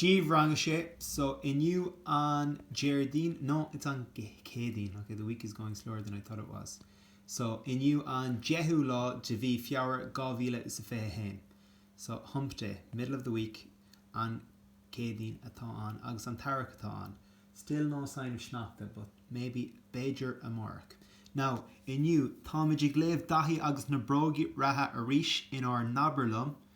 Daoibh Rang 6, So inniu an Déardaoin, no it's an Céadaoin, ok the week is going slower than I thought it was, so inniu an deichiú lá de mhí Feabhra dhá mhíle is a fiche a haon. So Hump Day, middle of the week, an Céadaoin atá ann agus an t-earrach atá ann. Still no sign of sneachta but maybe, b'fhéidir amárach. Now inniu táimid ag léamh Daithí agus na bróga reatha arís in ár nAbair Liom.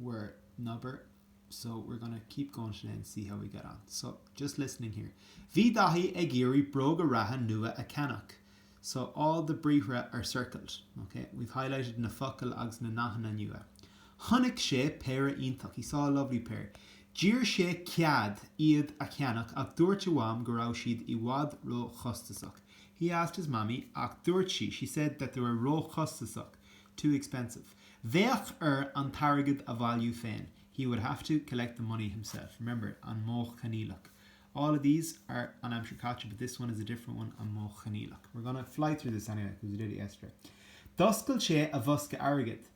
leabhar so we're gonna keep goin' today and see how we get on so just listening here Bhí Daithí ag iarraidh bróga reatha nua a cheannach so all the briathra are circled, ok? We've highlighted na focail agus na nathanna nua Chonaic sé péire iontach He saw a lovely pair D'iarr sé cead iad a cheannach ach dúirt a Mham go raibh siad i bhfad ró-chostasach He asked his Mammy ach dúirt sí She said that they were ró-chostasach Too expensive. Bheadh air an t-airgead a bhailiú féin, he would have to collect the money himself. Remember, an Modh Coinníollach. All of these are An Aimsir Chaite but this one is a different one, An Modh Coinníollach. We're gonna fly through this anyway because we did it yesterday. D'oscail sé a bhosca airgid.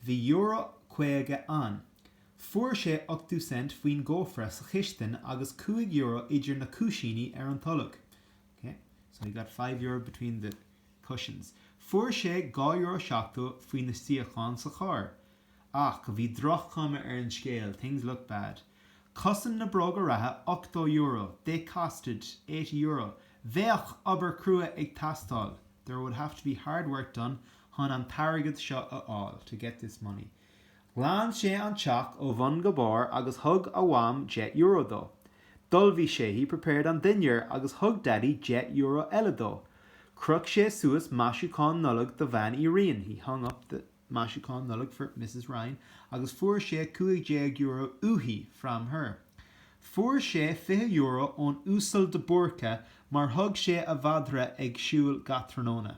Bhí euro caoga ann. Fuair sé ochtó cent faoin gcófra sa chistin agus cúig euro idir na cúisíní ar an tolg. Okay, so he got five euro between the. cushions. Fuair sé dhá euro seachtó faoi na suíocháin sa charr. Ach bhí droch-chuma ar an scéal, things looked bad. Chosain na bróga reatha ochtó euro, they costed eighty euro. Bheadh obair crua ag teastáil, there would have to be hard work done, chun an t-airgead seo a fháil, to get this money. Ghlan sé an teach ó bhun go barr agus thug a Mham deich euro dó. D'ullmhaigh sé, he prepared, an dinnéar agus thug Daidí deich euro eile dó. Chroch sé suas maisiúcháin Nollag do Bhean Uí Riain, he hung up the maisiúcháin Nollag for Misses Ryan, agus fuair sé cúig déag euro uaithi, from her. Fuair sé fiche euro ón Uasal de Búrca mar thug sé a mhadra ag siúl gach tráthnóna.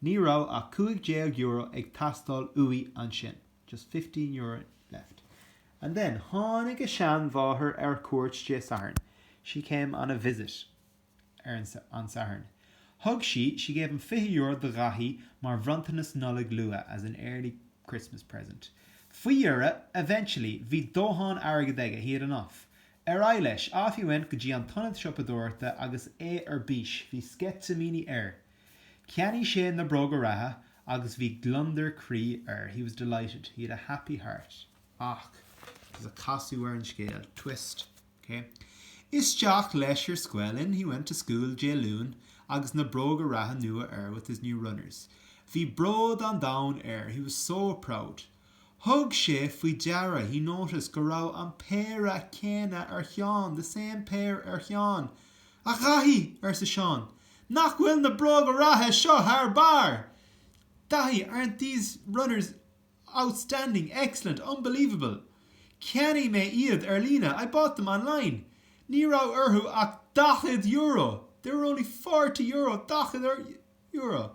Ní raibh ach €15 ag teastáil uaidh ansin, just €15 left. And then tháinig a sheanmháthair ar cuairt Dé Sathairn, she came on a visit ar an Satharn. Thug sí, she gave him €20 do Dhaithí mar bhronntanas Nollag luath, as an early Christmas present. Faoi dheireadh, eventually, bhí dóthain airgid aige, he had enough. Ar aghaidh leis, off he went go dtí an t-ionad siopadóireachta agus é ar bís, bhí sceitimíní air. Cheannaigh sé na bróga reatha agus bhí gliondar croí air, he was delighted, he had a happy heart. Ach, there's a casadh ar an scéal, twist, ok? Isteach leis ar scoil, in he went to school, Dé Luain agus na bróga reatha nua air, with his new runners. Bhí bród an domhain air, he was so proud. Thug sé faoi deara, he noticed, go raibh an péire céanna ar Sheán, the same pair ar Sheán. A Dhaithí! arsa Seán. Nach bhfuil na bróga reatha seo thar barr! Daithí, aren't these runners outstanding, excellent, unbelievable! Cheannaigh mé iad ar líne, I bought them online. Ní raibh orthu ach daichead euro! They were only forty euro, daichead euro!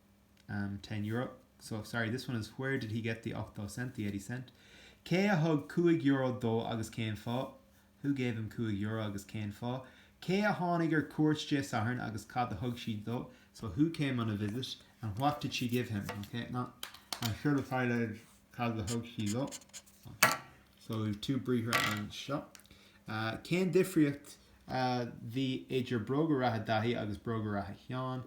um, ten euro, so sorry this one is where did he get the ochtó cent, the eighty cent? Cé a thug cúig euro dó agus cén fáth? Who gave him cúig euro agus cén fáth? Cé a tháinig ar cuairt Dé Sathairn agus cad a thug siad dó? So who came on a visit and what did she give him? Ok, ón scéal atá i leith cad a thug sí dó. Ok, so we have two briathra anseo. Uh, cén difríocht a bhí idir bróga reatha Daithí agus bróga reatha Sheáin?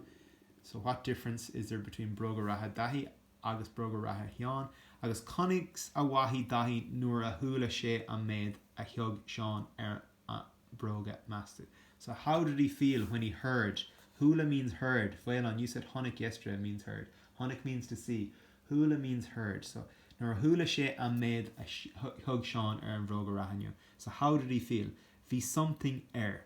So what difference is there between Bróga Reatha Dhaithí agus Bróga Reatha Sheáin agus conas a mhothaigh Daithí nuair a chuala sé an méad a thug Seán ar a bhróga, meas tú? So how did he feel when he heard, chuala means heard, Faolán, you said chonaic yesterday means heard. Chonaic means to see. Chuala means heard. So nuair a chuala sé an méad a thug Seán ar a bhróga reatha nua. So how did he feel? Bhí something air.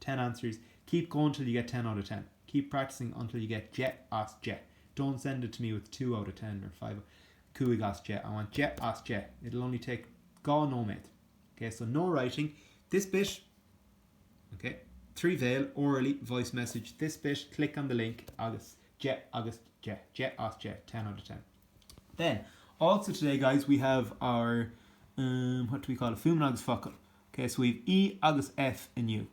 10 answers Keep going till you get ten out of ten Keep practising until you get deich as deich Don't send it to me with two out of ten or five cúig as deich I want deich as deich It'll only take dhá nóiméad Ok, so no writing this bit Ok, trí bhéal orally, voice message this bit Click on the link agus deich agus deich deich as deich ten out of ten Then, also today, guys, we have our, um, what do we call it, Fuaim agus Focal. Ok, so we've E agus F inniu.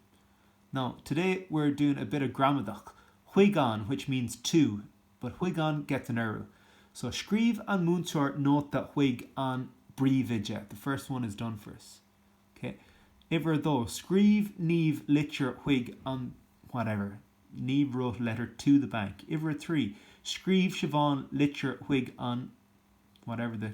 Now, today we're doing a bit of gramadach. Chuig an, which means to, but chuig an gets an urú. So scríobh an múinteoir nóta chuig an bpríomhoide. The first one is done for us. Ok. Uimhir a dó, scríobh Niamh litir chuig an whatever. Niamh wrote a letter to the bank. Uimhir a trí, scríobh Siobhán litir chuig an whatever the.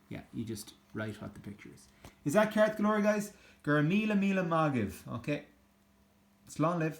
Yeah, you just write what the picture is. Is that ceart go leor, guys? Go raibh míle míle maith agaibh, okay? Slán libh.